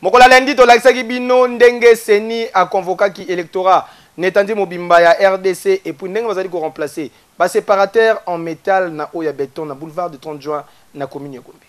mokolo ya lendi tolakisaki bino ndenge seni aconvokaki electorat na etandi mobimba ya rdc epuis ndenge bazali koremplace baseparateur en metal na oyo ya beton na boulevard du 30 juin na commune ya gombe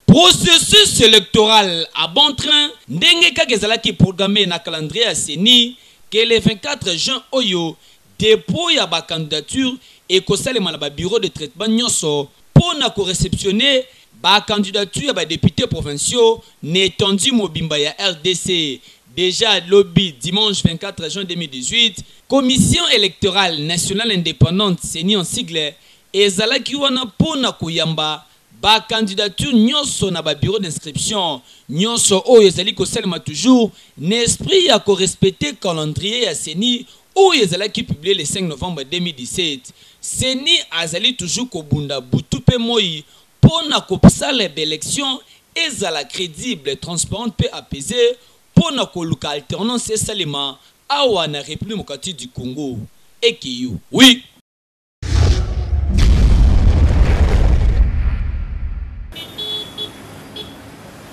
Processus electoral à bon train ndenge kaka ezalaki programme na calendrier ya ceni que le 24 juin oyo, Depot ya ba candidatures ekosalema na ba bureaux de traitement nionso mpo na ko receptionner ba candidatures ya ba deputes provinciaux na etendue mobimba ya rdc. Dejà lobi, dimanche 24 juin 2018, Commission electorale nationale independante, ceni en sigle, ezalaki wana mpo na koyamba Ba candidatures nionso na ba bureaux d'inscription nionso oyo ezali kosalema toujours na esprit ya ko respecter calendrier ya ceni oyo ezalaki publier le 5 novembre 2017. Ceni azali toujours kobunda butu mpe moyi mpo na kopsala b'elections ezala credibles, transparentes mpe apaisees mpo na koluka alternance esalema awa na Republique Democratique du Congo. Ekeyo. Oui!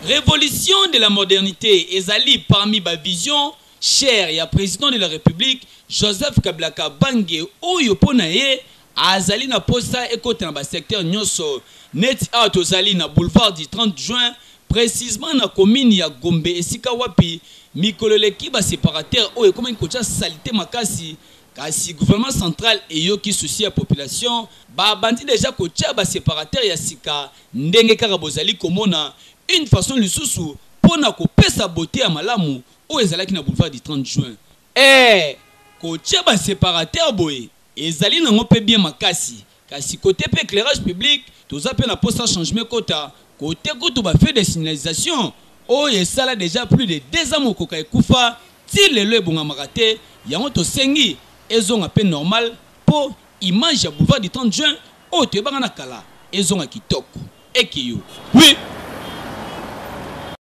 Revolution de la modernite ezali parmi ba visions chères ya President de la Republique Joseph Kabila Kabange oyo mpo na ye azali na mposa ekota na ba secteurs nionso neti awa tozali na boulevard du 30 juin precisement na commune ya Gombe esika wapi mikolo eleki ba separateurs oyo ekomaki kotia salite makasi Kasi gouvernement central eyoki souci ya population, ba bandi dejà kotia ba separateurs ya sika ndenge kaka bozali komona, une façon lisusu mpo na kopesa beaute ya malamu oyo ezalaki na boulevard du 30 juin. Ee, kotia ba separateurs boye ezali nango mpe bien makasi. Kasi cote pe eclairage public toza pe na posa changement ekota, cote kutu ba feux de signalisation oyo esala dejà plus de deux ans mokoka ekufa ti lelo ebongamaka te, yango tosengi ezonga pe normal po image ya boulevard du 30 juin oyo toyebaka na kala ezonga kitoko. Ekiyo. Oui.